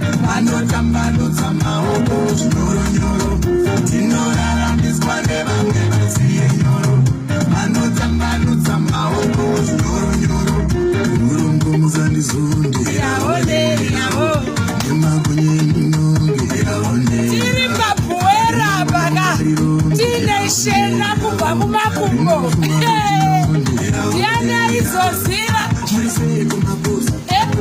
vanotambanudza maoko zvinyoronyoro tinoraramiswa nevamwe vasiye nyoro vanotambanudza maoko zvinyoronyoro urungu muzandizunde yaone yavo nemagunye minonge yaone tiri papuwera paka tine shena kubva kumakumbo yana izoziva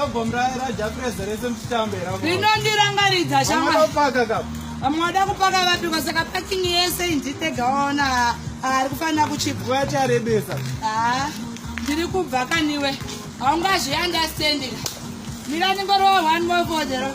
Album ra ra Jafreza rese mchitambe ra. Rinondirangaridza shama. Amada kupaka ka. Amada kupaka vapi kwa saka packing yese indite gaona. Ari kufanira kuchipa. Wati arebesa. Ah. Ndiri kubva kaniwe. Haungazvi understanding. Mira ningorowa one more for the road.